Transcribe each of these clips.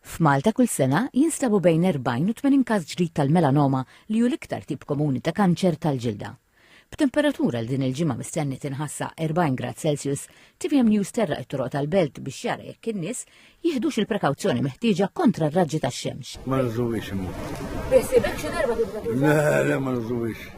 F'Malta kull sena jinstabu bejn 40 u 80 każ ġdid tal-melanoma li hu l-iktar tip komuni ta' kanċer tal-ġilda. B'temperatura li din il-ġimgħa mistenni tinħass sa 40 grad Celsius, tvm News terraq it-toroq tal-belt biex jara jekk in-nies jiħdux il-prekawzjoni meħtieġa kontra r-raġġi tax-xemx. Ma nużuhiex imma. Beħsiebek xi darba tuża? Le, le ma nużuhiex.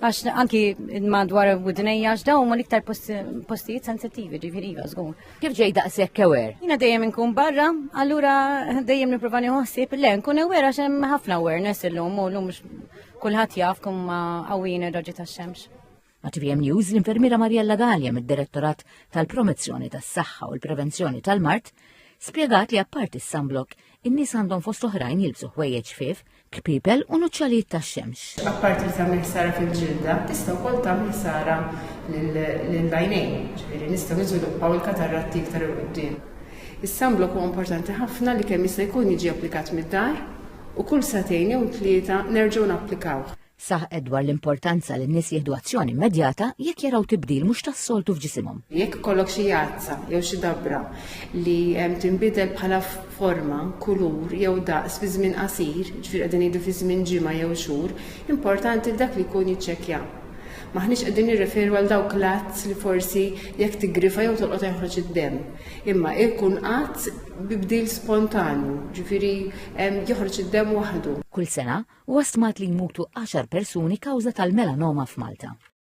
Għax anki madwar widnejja, għax dawn ma liktar postijiet sensittivi ġifiri iva, zgur. Kif ġej daqshekk kewer? Jina dejjem inkun barra, allura dejjem nipprova nieħosib le nkun ewer għax hemm ħafna awareness illum u llum kulħadd jaf kum ma qawwin ir-raġi tax-xemx. Għatvm News l-infermiera Mariella Gallia mid-Direttorat tal-Promozzjoni tas-Saħħa u l-Prevenzjoni tal-Mart spjegat li apparti s-sunblock in-nies għandhom fost oħrajn jilbsu ħwejjeġ fif kpibel u nuċċalijiet tax-xemx. Apparti li tagħmel ħsara fil-ġilda, tista' wkoll tagħmel ħsara lill-għajnejn, ġifieri nistgħu niżviluppaw il-kataratti iktar 'il quddiem. Is-sunblock huwa importanti ħafna li kemm jista' jkun jiġi applikat mid-dar u kull sagħtejn jew tlieta nerġgħu napplikawh. Saħqet dwar l-importanza li n-nies jieħdu azzjoni immedjata jekk jaraw tibdil mhux tas-soltu f'ġisimhom. Jekk ikollok xi jazza jew xi dabbra li tinbidel bħala forma, kulur jew daqs fi żmien qasir, jiġifieri qegħdin ngħidu fi żmien ġimgħa jew xhur, importanti li dak li jkun jiċċekkja. M'aħniex qegħdin nirreferu għal dawk l-azz li forsi jekk tiggrifa jew tolqot jeħroġ id-demm, imma jkun azz bi bdil spontanju, jiġifieri joħroġ id-demm waħdu. Kull sena, Huwa stmat li jmutu għaxar persuni kawża tal-melanoma f'Malta.